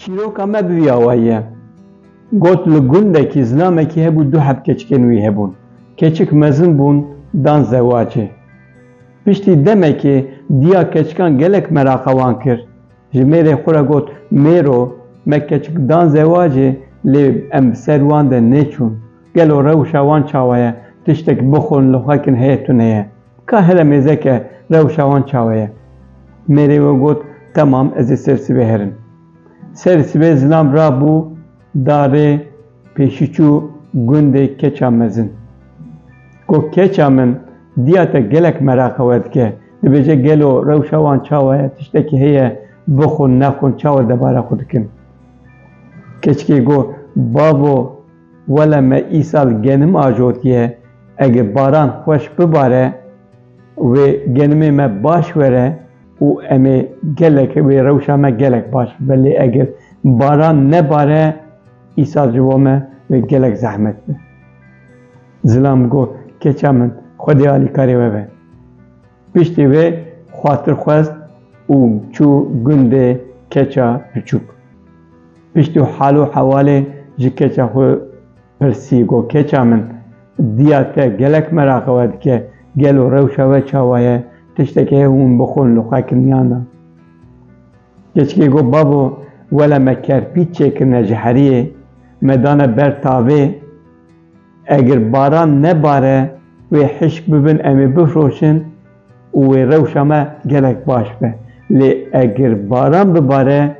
Çîroka me bi vî awayî ye. Got li gundekî zilamekî hebû du heb keçikên wî hebûn. Keçik mezin bûn dan zewacê. Piştî demekê diya keçikan gelek meraqa wan kir. Ji mêrê xwe re got mêro me keçik dan zewacê lê em bi ser wan de nêçûn. Gelo rewşa wan çawa ye? Tiştek bixwin li xwe kin heye tune ye. Ka here mêzeke rewşa wan çawa ye? Mêrê we got, Temam ez ê ser sibê herim. Ser sibê zilam rabû darê pêşî çû gundê keça mezin. Got, Keça min diya te gelek meraqe we dike. Dibêje gelo rewşa wan çawa ye? Tiştekî heye bixwin nexwin çawa debara xwe dikin? Keçikê got, Bavo Wele me îsal genim ajotiye, ege baran xweş bibare wê genimê me baş were û em ê gelek wê rewşa me gelek baş bibe lê eger baran nebare îsal ji bo me wê gelek zehmet be. Zilam got, keça min, Xwedê alîkarê we be. Piştî vê xwatir xwest û çû gundê keça piçûk. Piştî hal û hewalê ji keça xwe pirsî got, Keça min, diya te gelek meraqa we dike, gelo rewşa we çawa ye, tiştekî heye û min bixwin li xwe kiniyana? Keçikê got, Babo, wele me kerpît çêkirine ji heriyê, me dane ber tavê, Eger baran nebare wê hişk bibin em ê bifroşin û wê rewşa me gelek baş be. Lê eger baran bibare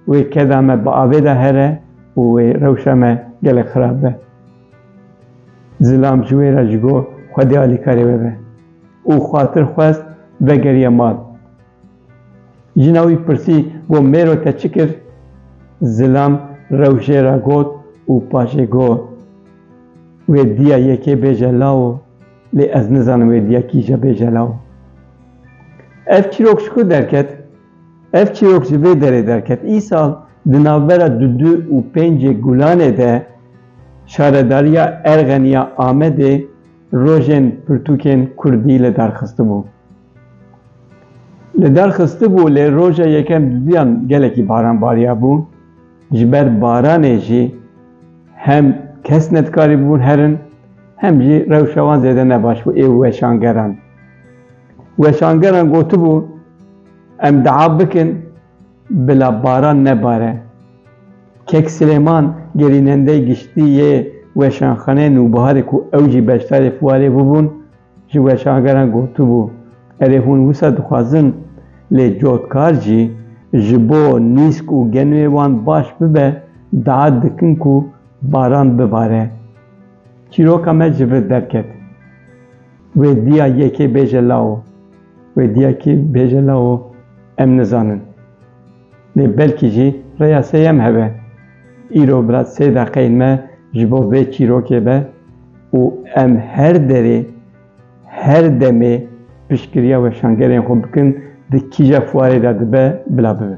wê keda me bi avê de here û wê rewşa me gelek xirab be. Zilam ji wê re ji bo xwedê alîkarê bibe û xwatir xwest vegeriye mal. Jina wî pirsî got mêro te çi kir? Zilam rewşê re got û paşê got, Wê diya yekê bêje lawo, lê ez nizanim wê diya kîje bêje lawo. Ev çîrok ji ku derket? Ev çîrok ji vê derê derket, Îsal di navbera dudu û pêncê gulanê de şaredariya Erxeniya Amedê rojên pirtûkên kurdî li dar xistibû. Li derxistibû lê roja yekem duduyan gelekî baran bariyabû. Ji ber baranê jî hem kes ne dikarîbûn herin hem jî rewşa wan zêde ne baş bû ê weşangeran. Weşangeran gotibû em dua bikin bila baran nebare. Kek Silêman gerînendeyê giştî yê Weşanxaneyê Nûbiharê ku ew jî beşdarê fuarê bûbûn, Ji weşangeran gotibû, Erê hûn wisa dixwazin, lê cotkar jî ji bo nîsk û genûyê wan baş bibe daet dikin ku baran bibare. Çîroka me ji vir derket. Wê diya yekê bêje lawo, wê diya kî bêje lawo em nizanin. Lê belkî jî rêya sêyem hebe. Îro bila sê deqeyên me ji bo vê çîrokê be û em her derê, her demê piştgiriya weşangerên xwe bikin di kîja fuarê de dibe bila bibe.